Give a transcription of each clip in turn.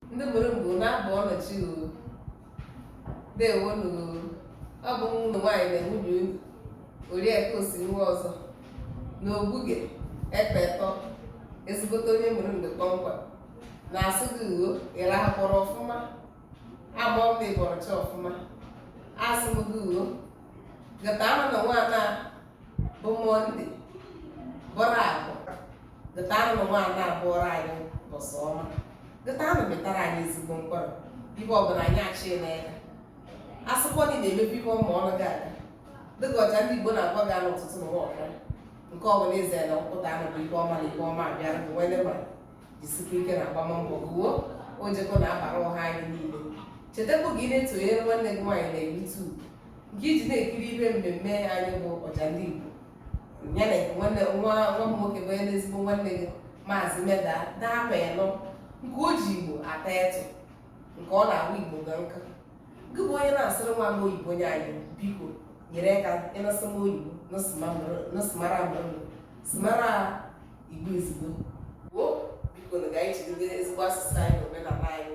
ndị Umulumgbe na-abọ nụ chi o dewonu ọ bụ ụmụ nwaanyị na nwunye unu Oriakụ Osinwa ọzọ na Ogbuge Ekpetọ ezigbote onye Umulumgbe kpọmkwem na-asụ gị uwe ị rahakwọrọ ọfụma ma ọ bụ ị bọrọ chi ọfụma asụ m gị uwe ga taanụ na nwaana bụ Mọnde bụrụ Afọ ga taanụ na nwaana bụọrọ anyị ụbọsị ọma ga taanụ mịtara anyị ezigbo mkpụrụ ihe ọbụla anyị achị n'aka asụkwọ dị na-emebi ihe ọma ọnụ gị aga dịka Ojandiigbo na-agwa gị n'ụtụtụ na nwaọkara nke ọbụla eze na nkwụta anụ bụ ihe ọma na ihe ọma abịara bụ wele ma jisikwa ike na agbammbọ gụwo ojekọ na-abara ọha anyị niile chetakwa gị na-etonyere nwanne gị nwaanyị na YouTube nke e ji na-ekiri ihe mmemme anyị bụ Ojandiigbo ya na nwa m nwoke bụ onye ezigbo nwanne gị maazị meda daama ịnọ nke o ji Igbo ata etụ nke ọ na-ahụ Igbo ga nka gị bụ onye na-asịrị nwa m oyibo nye anyị biko nyere aka ịnasị m oyibo nọsịmara mmadụ sịmara Igbo ezigbo gboo biko na ga anyị jidebe ezigbo asụsụ anyị na omenala anyị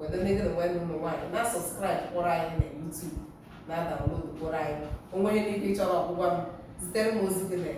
weta ndị gị na nwanne ụmụ nwaanyị na-asọbskraịb kwọrọ anyị na YouTube na-adaunlodu kwọrọ anyị o nwee ihe niile ị chọrọ ọgwụgwa m zitere m ozi gị na